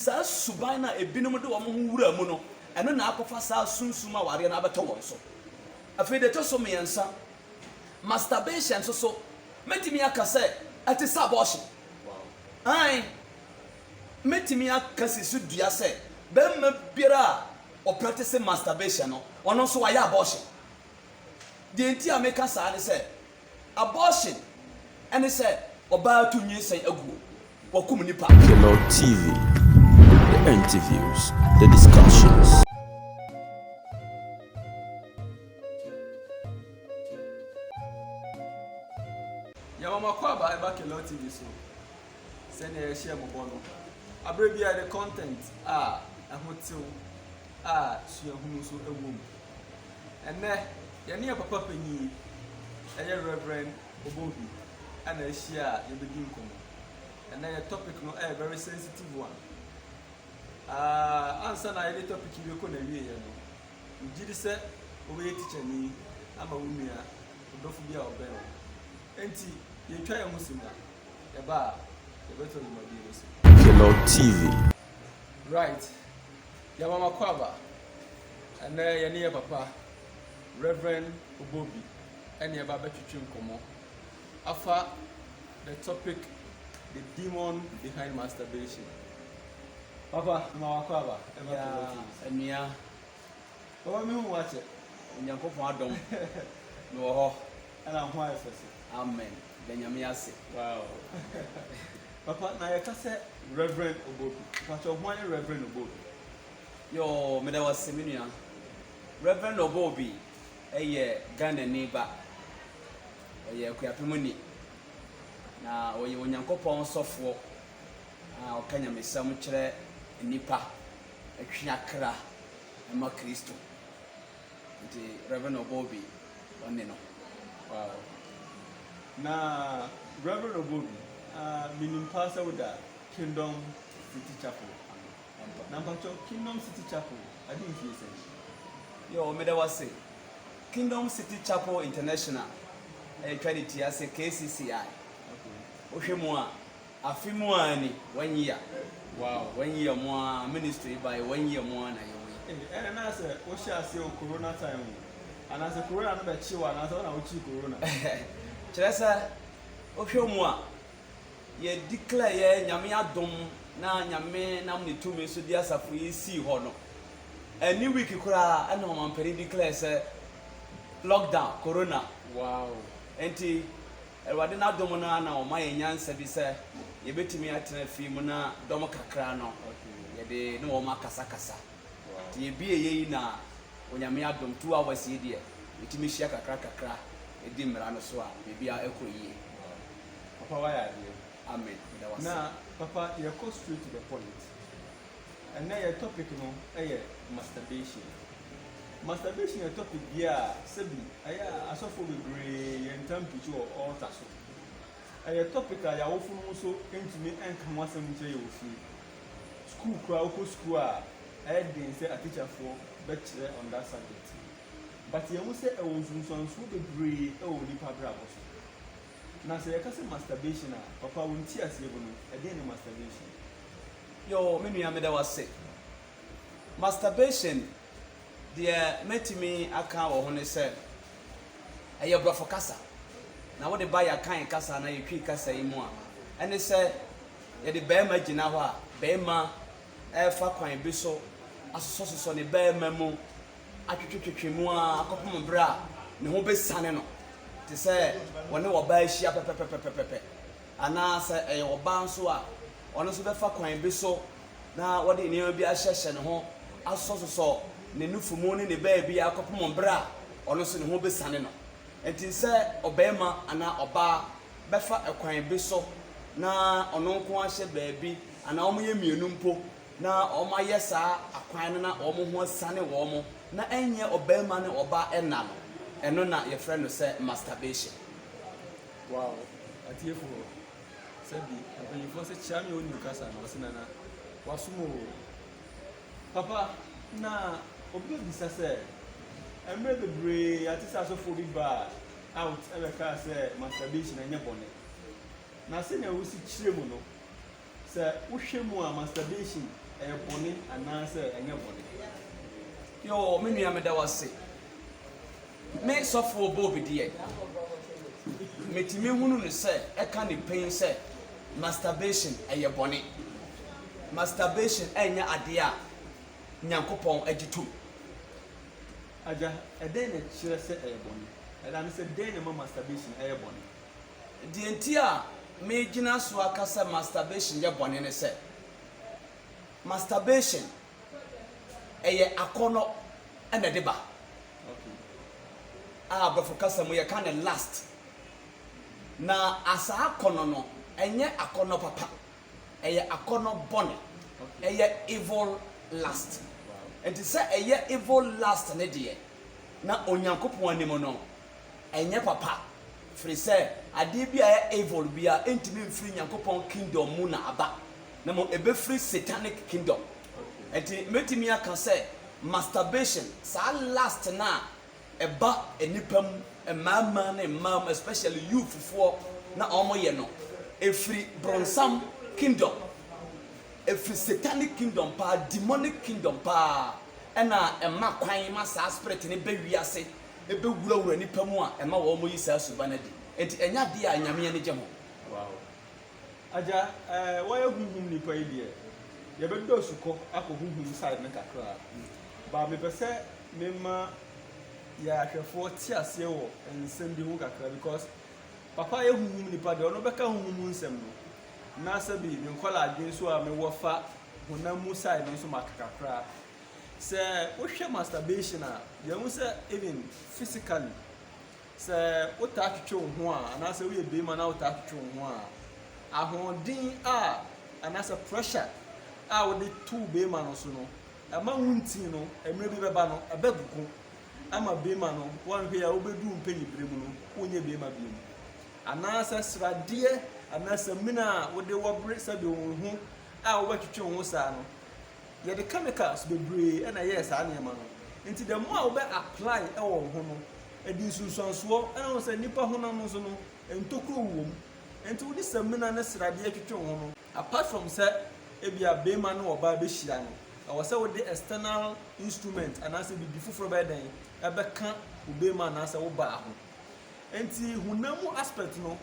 Saa suban no a ebinom de wɔn ho wura mu no, ɛno na akɔfa saa sunsum awareɛ no abɛtɔ wɔn so. Afei, deɛ ɛtɔ so mmiɛnsa, masturbation nso so, mɛtumi aka sɛ ɛte sɛ abortion. Aane, mɛtumi aka si so dua sɛ barima biara a ɔpratese masturbation no, ɔno nso wayɛ abortion. Deɛ nti a meka saa ne sɛ, Abortion ne sɛ ɔbaa tu nyinsɛn aguo, wɔkum nipa. Hello TV, the interviews, the discussions. Yɛma mo akwaaba ɛba Kello TV so sɛdeɛ yɛhyɛɛ mo bɔ no. Aberɛ biara yɛde content a ɛho tew a suahunu nso wɔ mu. Ɛnnɛ, yɛne yɛn papa panyin, ɛyɛ Rev. Obovi na ahyia a yɛbɛdi nkɔmmɔ. Ɛnnɛ yɛ topic no ɛyɛ very sensitive one. Uh, ansa na yɛde topic yi bɛkɔ n'awieɛ no, megye di sɛ wobɛyɛ tikyani ama wo nua ɔdɔfo bi a ɔbɛn wo. Enti, yɛtwa yɛn ho si mu a, yɛba a, yɛbɛtoa dwumadie no so. Kellow TV. Right. Yɛama makɔ aba. Ɛnnɛ yɛne yɛn papa Rev. Obobi ne ɛba abɛtwetwe nkɔmmɔ afa the topic the demon behind masturbation. Papa, mema wakɔ aba. Yeah, nua. Papa, me hu wakyɛ. Onyankopɔn adom. Me wɔ hɔ. Ɛna ho ayɛ fɛ so. Amen. Da Nyame ase. Wow. Papa, na yɛka sɛ Rev. Obobi. Mpakyɛ, hwan ne Rev. Obobi? Yoo meda wo ase me nua. Rev Ɔbɔ Obi yɛ Ghanani ba. Ɔyɛ Akuapemuni, na ɔyɛ Onyankopɔn sɔfoɔ a ɔka nyamesɛm kyerɛ nnipa, twe akra ma Kristo. Nti Rev Ɔbɔ Obi ɔne no. Wow. Na Rev Ɔbɔ Obi, ah, menim paa sɛ woda Kingdom City Chapel ano. Na mpatsɔ Kingdom City Chapel adzi mfe sɛn? Yoo meda wo ase. Kingdom City Chapel International a yɛtwa ne ti ase KCCI. Wohwɛ mu a, afe mu ara ni, one year. Wow, one year mu ara ministry yi bae, one year mu ara na yɛwɔ yi. Ei, ɛnna na ayɛ sɛ wohyɛɛ aseɛ wɔ Corona time mu. Anaasɛ Corona no bɛkyee wo anaasɛ wo na wokyee Corona? Kyerɛ sɛ, wohwɛ mu a, yɛ declare yɛ nyame adom na nyame nam ne tumi so de asafo yi sii hɔ no ɛne week koraa ɛna ɔmampanin declare sɛ lockdown corona wow nti awurade n'adom no ana ɔma yɛ nyansa bi sɛ yɛbɛtumi atena fie mu na dɔm kakra no yɛde ne wɔn akasakasa nti yɛbie yɛyi na onyame adom two hours yi deɛ yɛtumi hyia kakra kakra ɛdi mmara no so a biribi a ɛkɔ yie Papa wayɛ adeɛ. Amen meda wo ase. Na papa yɛkɔ straight to the point ɛnɛ yɛ topic no yɛ masturbation masturbation yɛ topic bi a sɛbi ɛyɛ a asɔfoɔ bebree yɛ ntam preach wɔ altar so ɛyɛ topic a yɛawofo no nso ntumi nka ho asɛm nkyerɛ yɛ wɔ fie school koraa wokɔ school a ɛyɛ den sɛ atikyafoɔ bɛkyerɛ on that subject but yɛhu sɛ ɛwɔ nsunsuansoɔ bebree wɔ nipa abrabɔ so Na sɛ yɛka sɛ masturbation a, papa wo nteaseɛ mu no, ɛdeɛn ne masturbation? Yoo me nua meda wo ase. Masturbation deɛ mɛtumi aka wɔ ho ne sɛ, ɛyɛ brɔfo kasa na wode ba yɛ Akan kasa anaa yɛ Twi kasa yi mu a, ɛne sɛ yɛde barima gyina hɔ a, barima ɛrefa kwan bi so asosɔsosɔ ne barima mu atwetwetwetwe mu ara kɔpem bere a ne ho besiane no, te sɛ wɔne ɔbaa ahyia pɛpɛpɛpɛpɛpɛ, anaa sɛ ɛyɛ ɔbaa nso a, ɔno nso bɛfa kwan bi so na wɔde nneɛma bi ahyehyɛ ne ho asosɔsosɔ ne nufu mu ne ne baabi ara kɔpem bere a ɔno nso ne ho besiane no. Enti sɛ ɔbarima anaa ɔbaa bɛfa kwan bi so na ɔno nko ara hyɛ baabi anaa wɔyɛ mmienu mpo, Na wɔayɛ saa akwan no na wɔn ho asiane wɔn na ɛnyɛ ɔbarima ne ɔbaa ɛna no, ɛno na yɛfrɛ no sɛ masturbation. Wow atiefoɔ sɛ bi mpanyinfoɔ sɛ kyia me onim kasa na ɔse nana wasom oo papa na obi bɛbisa sɛ mmerɛ bebree yɛate sɛ asɔfoɔ bi baa out ɛbɛkaa sɛ masturbation ɛnyɛ bɔne na sɛnea wosi kyerɛ mu no Sɛ wohwɛ mu a masturbation ɛyɛ bɔne anaasɛ ɛnyɛ bɔne? Yoo me nua meda wase. Me sɔfoɔ Bob deɛ metumi hunu no sɛ ɛka ne pɛn sɛ masturbation ɛyɛ bɔne. Masturbation ɛnyɛ adeɛ a Nyankopɔn agye tom. Agya, ɛdɛn na ɛkyerɛ sɛ ɛyɛ bɔne? Ɛda no sɛ dɛn na ɛma masturbation ɛyɛ bɔne? Deɛ nti a megyina so aka sɛ masturbation yɛ bɔne ne sɛ, masturbation, ɛyɛ akɔnnɔ na ɛde ba, a Borɔfo kasa mu yɛka no lust. Na saa akɔnnɔ no, ɛnyɛ akɔnnɔ papa, ɛyɛ akɔnnɔ bɔne, ɛyɛ evil lust. Nti sɛ ɛyɛ evil lust no deɛ, na Onyankopɔn anim no, ɛnyɛ papa firi sɛ adeɛ bi a ɛyɛ evil bi a ɛntumi mfiri Nyankopɔn kingdom mu na aba na mmom ɛbɛfiri satanic kingdom ɛnti mɛtumi aka sɛ masturbation saa last no a ɛba nnipa mu mmarima ne mmaa mu especially youth foɔ na wɔn yɛ no ɛfiri bronsam kingdom ɛfiri satanic kingdom paa demonic kingdom paa ɛna ɛma kwan ma saa spirit no bɛ wiase bɛwurawura nnipa mu a ɛma wɔyi saa suban adi. Enti ɛnyɛ adeɛ a Nyame ani gye ho. Wow. Agya, eh, wɔyɛ honhom nipa yi deɛ, yɛbɛdɔ su kɔ akɔ honhom side no kakra. But mepɛ sɛ mema yɛn ahwɛfoɔ te aseɛ wɔ nsɛm bi ho kakra because papa yɛ honhom nipa deɛ, ɔno bɛka honhom mu nsɛm no. Na sɛbi me nkɔla adwene nso a mewɔ fa honam mu side no nso maka kakra. Sɛ wohwɛ masturbation a yɛhu sɛ even physically sɛ wotaa twetwe wo ho a anaasɛ woyɛ barima na wotaa twetwe wo ho a ahoɔden a anaasɛ pressure a wode to barima no so no ɛma wo nti no mmerɛ bi bɛba no ɛbɛgogo ama barima no wɔnhwɛ a wobɛduru mpanyi berɛ mu no wonyɛ barima bio mu anaasɛ sradeɛ anaasɛ mina a wode wɔbere sɛdeɛ wo ho a wobɛtwetwe wo ho saa no Yɛde chemicals bebree na ɛyɛɛ saa nneɛma no. Enti the more a wobɛ apply wɔ wo ho no, ɛde nsunsuansoɔ, ɛna wohu sɛ nnipa honam nso no, ntokuro wowɔ mu. Enti wode samina ne sradeɛ twetwe wo ho no, apart from sɛ ebia barima ne ɔbaa bɛhyia no, ɛwɔ sɛ wode external instrument anaasɛ biribi foforɔ bɛyɛ dɛn, ɛbɛka wo barima anaasɛ wo baa ho. Enti honam mu aspect no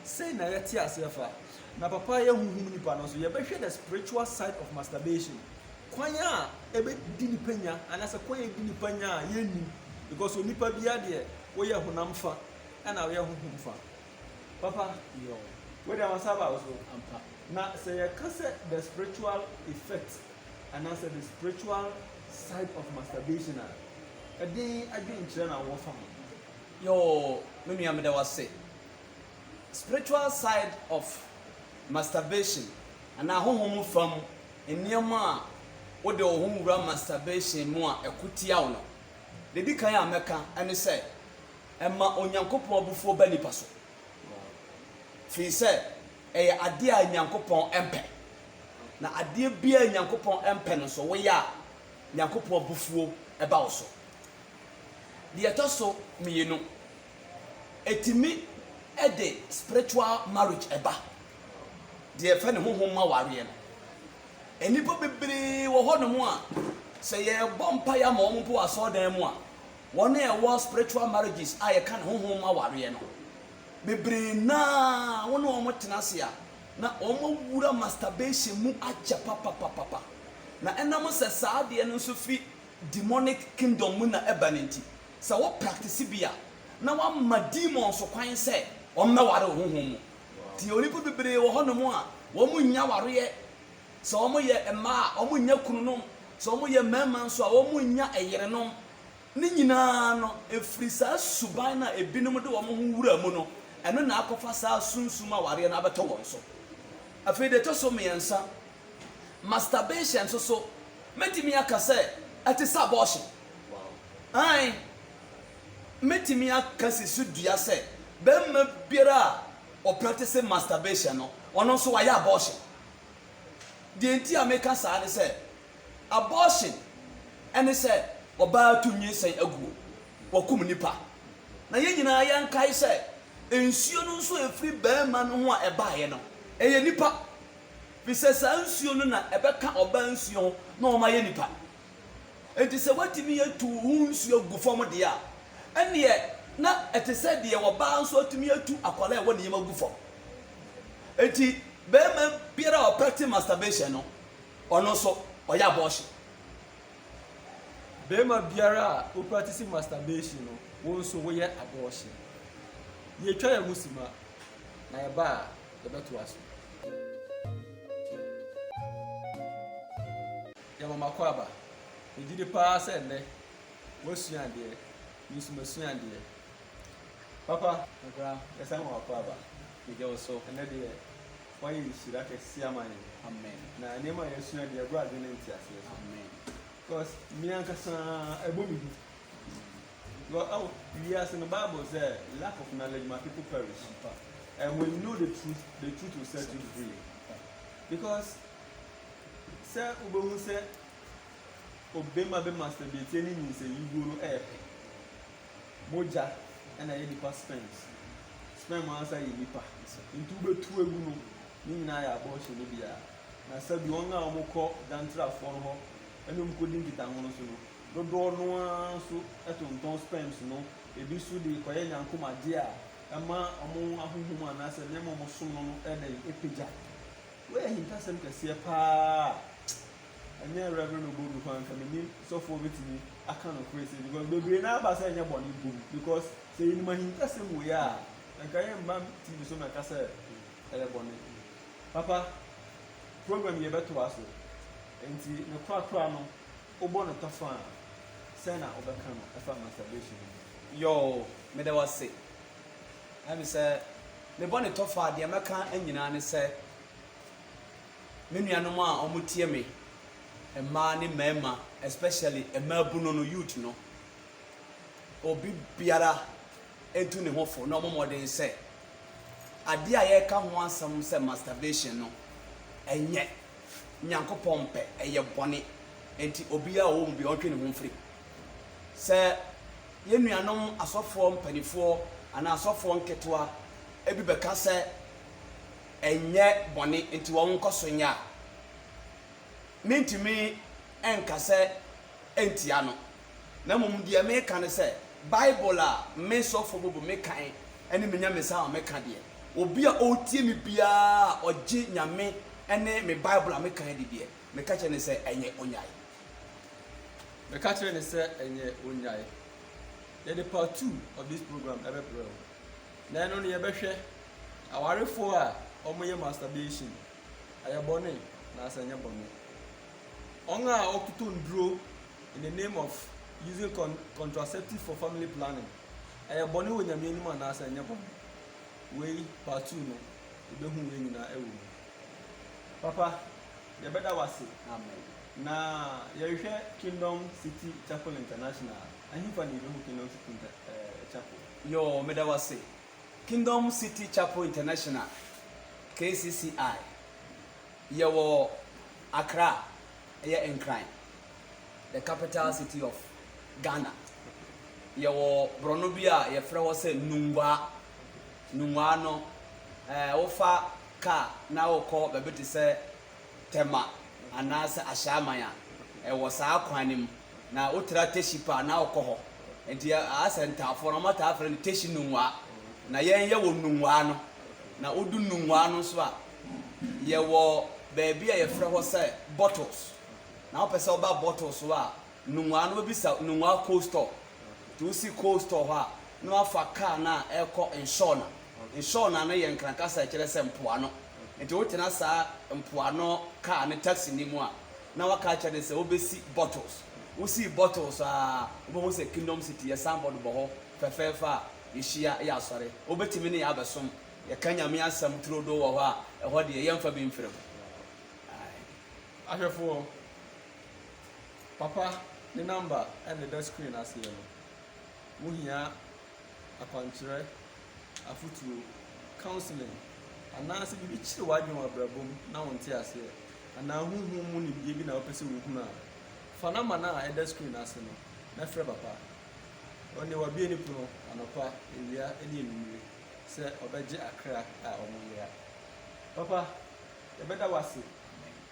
sɛn na yɛte aseɛ fa? Na papa yɛ honhom nipa no nso yɛbɛhwɛ the spiritual side of masturbation kwan a ɛbɛdi nipa nya anaasɛ kwan a ɛdi nipa nya a yɛnnim because onipa biara deɛ woyɛ honam fa ɛna woyɛ honhom fa papa yɛɔ wei deɛ wɔsan ba wo so ampa na sɛ yɛka sɛ the spiritual effect anaasɛ the spiritual side of masturbation a Ɛdin adwen kyerɛ na wɔ fa ho. Yoo me nua meda wo ase. Spiritual side of masturbation anaa honhom fam nneɛma a wode wo ho wura masturbation mu a ɛko tia wo no, deɛ ɛdi kan a mɛka ne sɛ ɛma Onyankopɔn abufuo ba nipa so. Firi sɛ ɛyɛ adeɛ a Nyankopɔn mpɛ. Na adeɛ biara a Nyankopɔn mpɛ no nso woyɛ a, Nyankopɔn abufuo ba wo so. Deɛ ɛtɔ so mmienu, ɛtumi de spiritual marriage ba, deɛ yɛfrɛ no honhom mu awareɛ no. Nnipa bebree wɔ hɔ nom a, sɛ yɛrebɔ mpaeɛ ama wɔn mpo wɔ asɔredan mu a, wɔn a ɛwɔ spiritual marriages a yɛka no honhom mu awareɛ no, bebree no ara wo ne wɔn tena ase a, Na wɔawura masturbation mu akyɛ papapapapa, na ɛnam sɛ saa adeɛ no nso firi demonic kingdom mu na ɛba no nti, sɛ wo practice bi a, na woama demons kwan sɛ wɔmmɛware wo honhom mu. Nti onipa bebree wɔ hɔnom a, wɔnnya awareɛ, sɛ wɔyɛ mmaa a, wɔnnya kununom, sɛ wɔyɛ mmarima nso a, wɔnnya yerenom. Ne nyinaa no, ɛfiri saa suban no a ebinom de wɔn ho wura mu no, ɛno na akɔfa saa sunsum awareɛ no abɛtɔ wɔn so. Afei deɛ ɛtɔ so mmiɛnsa, masturbation nso so, mɛtumi aka sɛ ɛte sɛ abortion. Aane, mɛtumi akasi so dua sɛ barima biara a ɔpractice masturbation no, ɔno nso wayɛ abortion. Deɛ nti a meka saa ne sɛ, Abortion ne sɛ ɔbaa tu nyinsɛn aguo, wɔkum nnipa. Na yɛn nyinaa yɛnkae sɛ nsuo no nso a ɛfiri barima no ho a ɛbaeɛ no, ɛyɛ nnipa. Firi sɛ saa nsuo no na ɛbɛka ɔbaa nsuo ho na wɔn ayɛ nnipa. Enti sɛ watumi atu wo ho nsuo agu fam deɛ a, ɛnneɛ na ɛte sɛ deɛ ɔbaa nso atumi atu akwadaa a ɛwɔ ne yam agu fam. Enti barima biara a ɔpɛkte masturbation no, Ɔno nso ɔyɛ abortion. Barima biara a wo practice masturbation no, wo nso woyɛ abortion. Yɛtwa yɛn ho sima na yɛba a yɛbɛtoa so. Yɛma makɔ aba. Megye di paa sɛ nnɛ woasua adeɛ, me nso masua adeɛ. Papa. Ɔbra, yɛsan ma wakɔ aba. Megye wo so. Ɛnnɛ deɛ. Wayɛ nhyira kɛseɛ ama yɛn. Amen. Na nneɛma a yɛasua deɛ ɛbrɛ adwene ne nteaseɛ so. Amen. Because me ankasa ɛbɔ me hu. Because oh, wiase no Bible sɛ lack of knowledge my people perish. Ampa. And when you know the truth, the truth will set you free. Ampa. Because sɛ wobɛhu sɛ obema bɛ masturbate ne nyinsɛnyiguo no ɛyɛ pɛ. Mogya na ɛyɛ nipa sperms. Sperm ankasa yɛ nipa. Nti wobɛtu agu no, ne nyinaa yɛ abortion no bi ara. Na sɛbi wɔn a wɔkɔ gyantrafoɔ no hɔ ne wɔn kɔdi nkitaho no so no, dodoɔ no ara nso tontɔn sperms no, ebi nso de kɔyɛ nyankom adeɛ a ɛma wɔn ahonhom anaasɛ nneɛma a wɔsom no no yɛ dɛn? Ɛpagya. Wei yɛ ahintasɛm kɛseɛ pa ara a Ɛnyɛ Rev. Obodu koraa nka menim sɔfo a obetumi aka nokore sei because bebree no ara ba sɛ ɛnyɛ bɔne mpo bi because sɛ yɛnim ahintasɛm wei a anka yɛmma TV so mɛka sɛ ɛyɛ bɔne. Papa, program yi yɛbɛtoa so nti ne korakora no wobɔ no tɔfã a sɛn na wobɛka no ɛfa masturbation no ho? Yoo, meda wo ase. Ɛne sɛ mebɔ no tɔfã a deɛ mɛka nyinaa ne sɛ Me nuanom a ɔmo tie me, mmaa ne mmarima especially mmaabunu no, youth no, obi biara ntu ne ho fo na ɔmɔ mmɔden sɛ adeɛ a yɛreka ho asɛm sɛ masturbation no ɛnyɛ Nyankopɔn mpɛ, ɛyɛ bɔne. Nti obiara a ɔwɔ mu bi ɔntwe ne ho mfiri. Sɛ yɛn nuanom asɔfoɔ mpanifoɔ anaa asɔfoɔ nketewa ebi bɛka sɛ ɛnyɛ bɔne nti wɔnkɔ so nyɛ a, mentumi nka sɛ ɛntia no. Na mmom deɛ meka ne sɛ, Bible a me sɔfoɔ bɔɔ me kan ne me nyamesa a meka deɛ, obi a ɔretie me biara a ɔgye Nyame ne me Bible a meka di deɛ, meka kyerɛ no sɛ ɛnyɛ ɔnnyae. Meka kyerɛ no sɛ ɛnyɛ ɔnnyae. Yɛde part two of this program bɛbrɛ wo. Na ɛno no yɛbɛhwɛ awarefoɔ a wɔyɛ masturbation, ɛyɛ bɔne anaasɛ ɛnyɛ bɔne. Wɔn a wɔtoto nnuro in the name of using con contraceptives for family planning, ɛyɛ bɔne wɔ Nyame anim anaasɛ ɛnyɛ bɔne. Wei part two no, yɛbɛhu wei nyinaa ɛwɔ mu. Papa, yɛbɛda wase. Amen. Na yɛhwɛ Kingdom City Chapel International. Ɛhefa na yɛbɛhu Kingdom City Inter eh, Chapel? Yoo meda wo ase. Kingdom City Chapel International, KCCI, yɛwɔ Accra, ɛyɛ Nkran, the capital city of Ghana. Yɛwɔ borɔno bi a yɛfrɛ hɔ sɛ Nungwaa. Nungwaa no, eh, wofa kaa na wokɔ baabi te sɛ Tema anaasɛ Ahyɛaman a ɛwɔ saa kwan no mu na wotra Techipa a na wokɔ hɔ. Enti Asa Ntafoɔ no wɔtaa frɛ no Techi Nungwaa. Na yɛn yɛwɔ Nungwaa no. Na wodu Nungwaa no nso a, yɛwɔ baabi a yɛfrɛ hɔ sɛ Bottles. Na wopɛ sɛ woba Bottles hɔ a, Nnomaa no bɛbisa nnomaa coal store. Nti wosi coal store hɔ a, na wɔafa kaa no a ɛrekɔ Nshorna. Nshorna no yɛ Nkran kasa a ɛkyerɛ sɛ mpoano. Nti wotena saa mpoano kaa no, taxi no mu a, na wɔaka akyerɛ no sɛ wobɛsi Bottles. Wosii Bottles a, wobɛhu sɛ Kingdom City, yɛ signboard bɔ hɔ fɛfɛɛfɛ a yɛhyia yɛ asɔre. Wobɛtumi ne yɛn abɛsom. Yɛka Nyame asɛm turodoo wɔ hɔ a, ɛhɔ deɛ yɛmfa bi mfiri ho. Ae. Ahwɛfoɔ. Papa ne number na ɛda screen aseɛ no. Wo hia akwankyerɛ, afotuo, counseling, anaa sɛ biribi kyere w'adwene wɔ abrabɔ mu na wo nte aseɛ, anaa honhom mu nimdeɛ bi na wopɛ sɛ wo hunu a, fa number no a ɛda screen ase no na frɛ papa. Ɔne wabue ne pono anɔpa, awia ne anwummere sɛ ɔbɛgye akra a ɔmo yera. Papa, yɛbɛda wo ase.